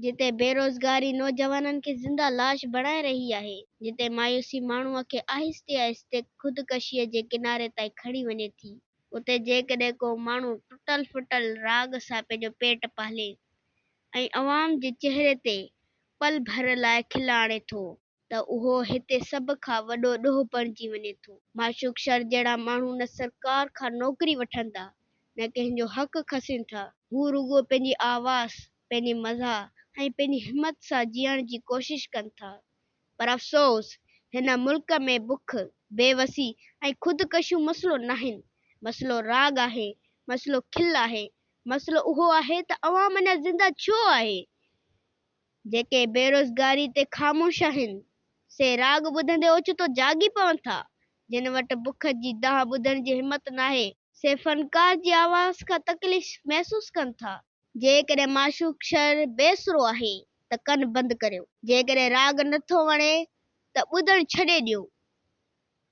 جتي بيروزگاري نوجوانن کي زنده لاش بڻائي رهي آهي. جتي مايوسي ماڻهو کي آهستي آهستي خودڪشيء جي ڪناري تائين کڻي وڃي ٿي. اتي جيڪڏهن ڪو ماڻهو ٽٽل ڦٽل راڳ سان پنهنجو پيٽ پالي ۽ عوام جي چهري تي پل ڀر لاء کل آڻي ٿو. ته اهو هتي سڀ کان وڏو ڏوهه بڻجي وڃي ٿو. معشوق شر جهڙا ماڻهو نه سرڪار کان نوڪري وٺن ٿا، نه ڪنهن جو حق کسين ٿا. هو رڳو پنهنجي آواز، پنهنجي مزاح ۽ پنهنجي همت سان جيئڻ جي ڪوشش ڪن ٿا. پر افسوس، هن ملڪ ۾ بک، بي وسي ۽ خودڪشيون مسئلو ناهن. مسئلو راڳ آهي، مسئلو کل آهي، مسئلو اهو آهي ته عوام اڃا زنده ڇو آهي؟ جيڪي بيروزگاري تي خاموش آهن، سي راڳ ٻڌندي اوچتو جاڳي پون ٿا. جن وٽ بک جي دانهن ٻڌڻ جي همت ناهي. سي فنڪار جي آواز کان تڪليف محسوس ڪن ٿا. جيڪڏهن معشوق شعر بي سرو آهي ته ڪن بند ڪريو. جيڪڏهن راڳ نه ٿو وڻي ته ٻڌڻ ڇڏي ڏيو.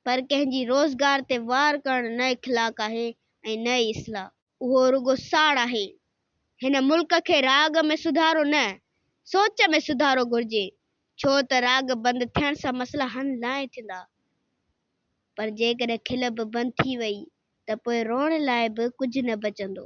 پر ڪنهن جي روزگار تي وار ڪرڻ نه اخلاق آهي ۽ نه ئي اصلاح. اهو رڳو ساڙ آهي. هن ملڪ کي راڳ ۾ سڌارو نه، سوچ ۾ سڌارو گهرجي، ڇو ته راڳ بند ٿيڻ سان مسئلا حل ناهي ٿيندا، پر جيڪڏهن کل به بند ٿي وئي ته پوء روئڻ لاء به ڪجهه نه بچندو.